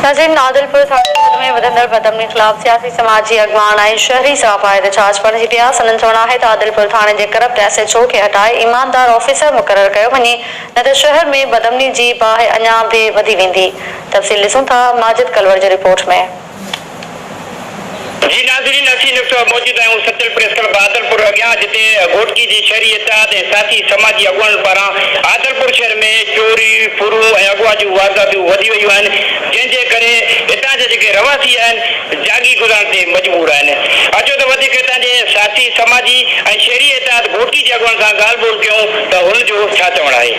نظيم نادل پڻ ساڳئي ملڪ ۾ وڌندڙ بدامني خلاف سياسي سماجي اڳواڻ ۽ شهري صحافا احتجاج بڻجي پيا، سندن چوڻ آهي ته عادل پور ٿاڻي جي ڪرپٽ ايس ايڇ او کي هٽائي ايماندار آفيسر مقرر ڪيو وڃي نه ته شهر ۾ بدامني جي باهه اڃان به وڌي ويندي تفصيل ڏسون ٿا ماجد ڪلوڙ جي رپورٽ ۾. جي ناظرين اسين ان وقت موجود آهيون سچل پريس ڪلب عادلپور اڳيان جتي گهوٽڪي جي شهري اتحاد ۽ ساٿي سماجي اڳواڻن پاران عادلپور شهر ۾ چوري ڦرون ۽ اغوا جون وارداتون وڌي ويون آهن جنهن جي ڪري هتان جا جيڪي رهواسي آهن جاڳي گذارڻ تي مجبور آهن اچو ته وڌيڪ هتان جي ساٿي سماجي ۽ شهري اتحاد گهوٽڪي جي اڳواڻن سان ڳالهه ٻولهه ڪيون ته هن جو ڇا چوڻ آهي.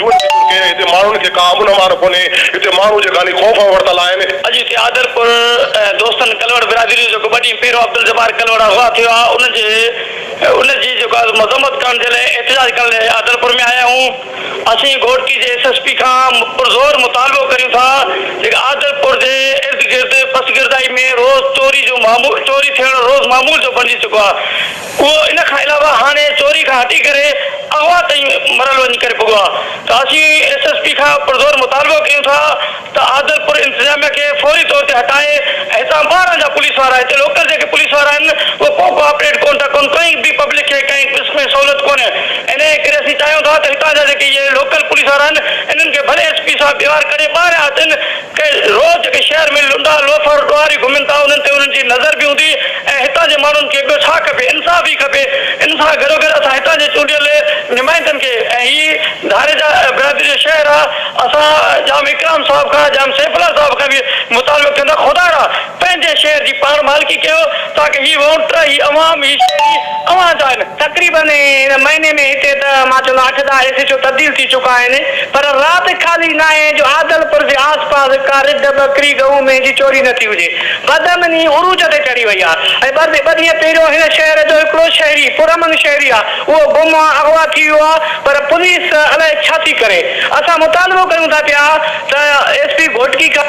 جوء جي ڪرڪي هتي ماڻهن کي ڪا امن امان ڪونهي، هتي ماڻهو جي خالي خوف ۾ ورتل آهن. اڄ هتي عادلپور دوستن ڪلهوڙ برادري جو جيڪو ٻه ڏينهن پهريون عبدالجبار ڪلهوڙ اغوا ٿيو آ ان جي ان جي جيڪو آ مذمت ڪرڻ جي لاء احتجاج ڪرڻ لاء عادلپور ۾ آيا آهيون اسين گهوٽڪي جي ايس ايس پي کان پرزور مطالبو ڪريون ٿا جيڪا عادلپور جي ارد گرد پسگردائي ۾ روز چوري جو معمول چوري ٿيڻ روز معمول جو بڻجي چڪو آ اهو ان کان علاوه هاڻي چوري کان هٽي ڪري اغوا تائين مرحلو وڃي ڪري پڳو آهي ته اسين ايس ايس پي کان پرزور مطالبو ڪيون ٿا ته عادلپور انتظاميه کي فوري طور تي هٽائي ۽ هتان ٻاهران جا پوليس وارا هتي لوڪل جيڪي پوليس وارا آهن اهي ڪو ڪو آپريٽ ڪون ٿا ڪن ڪنهن به پبلڪ کي ڪنهن قسم جي سهولت ڪونهي انهي ڪري اسين چاهيون ٿا ته هتان جا جيڪي اهي لوڪل پوليس وارا آهن انهن کي ڀلي ايس پي صاحب ٻيوار ڪڍي ٻاهران اچن کي روز جيڪي شهر ۾ لنڊا، لوفر، ڏوهاري گهمين ٿا انهن تي انهن جي نظر به هوندي ۽ هتان جي ماڻهن کي ٻيو ڇا کپي انصاف ئي کپي ان سان گڏو گڏ اسان هتان جي چونڊيل نمائندن کي ۽ هي ڌاريجا برادري جو شهر آ اسان ڄام اڪرام صاحب کان ڄام سيف الله صاحب کان به مطالبو ڪيون ٿا خدارا پنهنجي شهر جي پاڻ مالڪي ڪيو تاڪه هي وونٽ، هي عوام، هي شهري اوهان جا آهن. تقريباً هن مهيني ۾ هتي ته مان چوندو اٺ ڏهه ايس ايڇ او تبديل ٿي چڪا آهن پر رات خالي ناهي جو عادل پور جي آس پاس ڪا رڍ ٻڪري ڳئون مينهن جي چوري نه ٿي هجي بدامني عروج تي چڙهي وئي آهي ۽ ٻه ڏينهن پهريون هن شهر جو هڪڙو شهري پرامن شهري آهي اهو گم آهي اغوا ٿي ويو آهي پر پوليس الائي ڇا ٿي ڪري اسان مطالبو ڪريون ٿا پيا ته ايس پي گهوٽڪي کان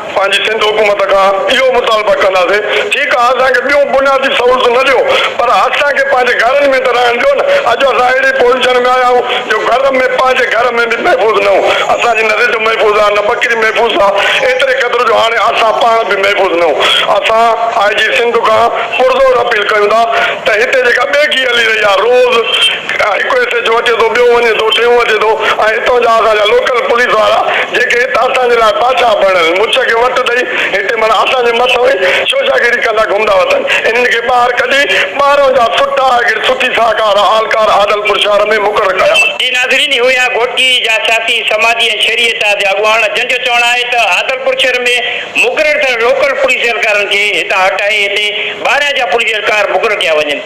پنهنجي سنڌ حڪومت کان اهو مطالبه ڪنداسين ٺيڪ آ اسان کي ٻيون بنيادي سهولتون نه ڏيو پر اسان کي پنهنجي گهرن ۾ ته رهڻ ڏيو نه اڄ اسان اهڙي پوزيشن ۾ آيا آهيون جو گهر ۾ پنهنجي گهر ۾ به محفوظ نه هون اسان جي نه رڍ محفوظ آ نه ٻڪري محفوظ آ ايتري قدر جو هاڻي اسان پاڻ به محفوظ نه هون اسان آء جي سنڌ کان پرزور اپيل ڪيون ٿا ته هتي جيڪا ٻيگي هلي رهي آ روز هڪ ايس ايڇ او اچي ٿو، ٻيو وڃي ٿو، ٽيون اچي ٿو ۽ هتان جا اسان جا لوڪل پوليس وارا جيڪي هت اسان جي لاء بادشاهه بڻيل مچ کي وٽ ڏئي هتي معنيٰ اسان جي مٿئون ئي شوشاگيري ڪندا گهمندا وتن انهن کي ٻاهر ڪڍي ٻاهرئون جا سٺا اگرچ سٺي ساهڪار اهلڪار عادلپور شهر ۾ مقرر ڪيا. جي ناظرين اهو يا گهوٽڪي جا سياسي، سماجي ۽ شهري اعتحاد جا اڳواڻ جن جو چوڻ آهي ته عادلپور شهر ۾ مقرر ٿيل لوڪل پوليس اهلڪارن کي هتان هٽائي هتي ٻاهرئان جا پوليس اهلڪار مقرر ڪيا وڃن.